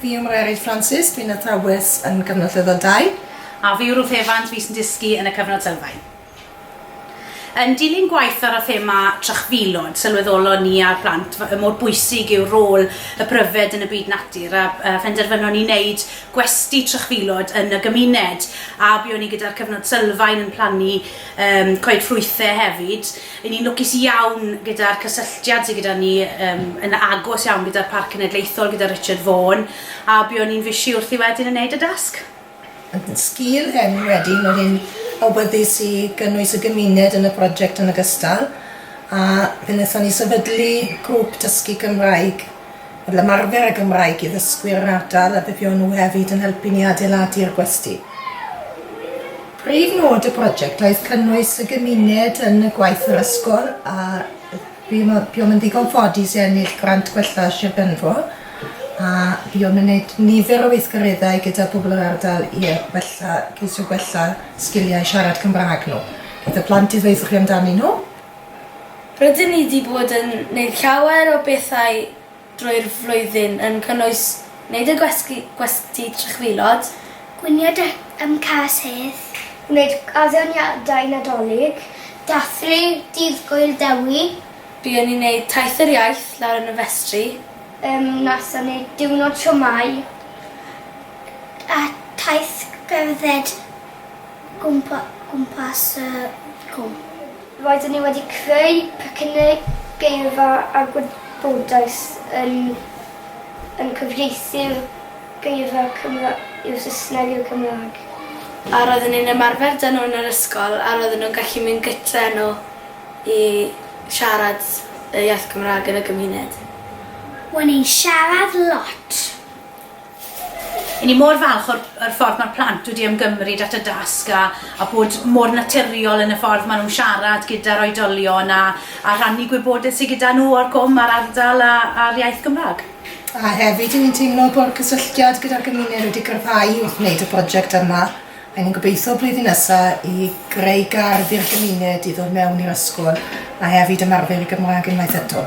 Fi yw Mererid Francis, dwi'n athrawes yn Cyfnod Sylfaen Dau. A fi yw Ruth Evans, fi sy'n dysgu yn y Cyfnod Sylfaen. Yn dilyn gwaith ar y thema trychfilod, sylweddolon ni a'r plant y mor bwysig yw rôl y pryfed yn y byd natur a phenderfynon ni wneud gwesty trychfilod yn y gymuned a buon ni gyda'r Cyfnod Sylfaen yn plannu coed ffrwythau hefyd. Ry'n ni'n lwcus iawn gyda'r cysylltiad sydd gyda ni um, yn agos iawn gyda'r Parc Cenedlaethol, gyda Richard Vaughan, a buon ni'n fisi wrthi wedyn yn neud y dasg. Sgil hyn wedyn, roedd hi'n awyddus i gynnwys y gymuned yn y prosiect yn ogystal, a fe wnaethon ni sefydlu grŵp dysgu Cymraeg. Fel ymarfer y Gymraeg i ddysgwyr yr ardal a byddio'n nhw hefyd yn helpu ni adeiladu'r gwesty. Prif nod y broject oedd cynnwys y gymuned yn y gwaith yr ysgol a buom yn ddigon ffodus i ennill grant gwella Sir Benfro a buom yn gwneud nifer o weithgareddau gyda pobl yr ardal i wella, ceisio gwella sgiliau siarad Cymraeg nhw. Bydd y plant i ddweud wrchi amdanyn nhw. Rydyn ni 'di bod yn neud llawer o bethau drwy'r flwyddyn yn cynnwys neud y gwesty gwesty trychfilod, gwnïo deck ym Cas Hedd, gwneud addeoniadau Nadolig, dathlu Dydd Gŵyl Dewi, Buon ni'n neud Taith yr Iaith lawr yn y festri. Yym nathon ni diwrnod siomai a taith cerdded gwmpa- gwmpas y cwm. Roedden ni wedi creu pecynnau geirfa a gwybodaeth yn yn cyfieithu'r geirfa Cymraeg i'r Saesneg i'r Cymraeg. A roedden ni'n ymarfer da nhw yn yr ysgol a roedden nhw'n gallu mynd gytre nhw i siarad y iaith Gymraeg yn y gymuned. O'n i'n siarad lot. Y'n ni mor falch o'r o'r ffordd ma'r plant wedi ymgymryd at y dasg a a bod mor naturiol yn y ffordd ma' nhw'n siarad gyda'r oedolion a a rhannu gwybodaeth sy gyda nhw o'r cwm a'r ardal a a'r iaith Gymrâg. A hefyd y'n ni'n teimlo bo'r cysylltiad gyda'r gymuned wedi gryfhau wrth wneud y project yma. R'yn ni'n gobeithio blwyddyn nesa i greu gardd i'r gymuned i ddod mewn i'r ysgol a hefyd ymarfer y Gymraeg unwaith eto.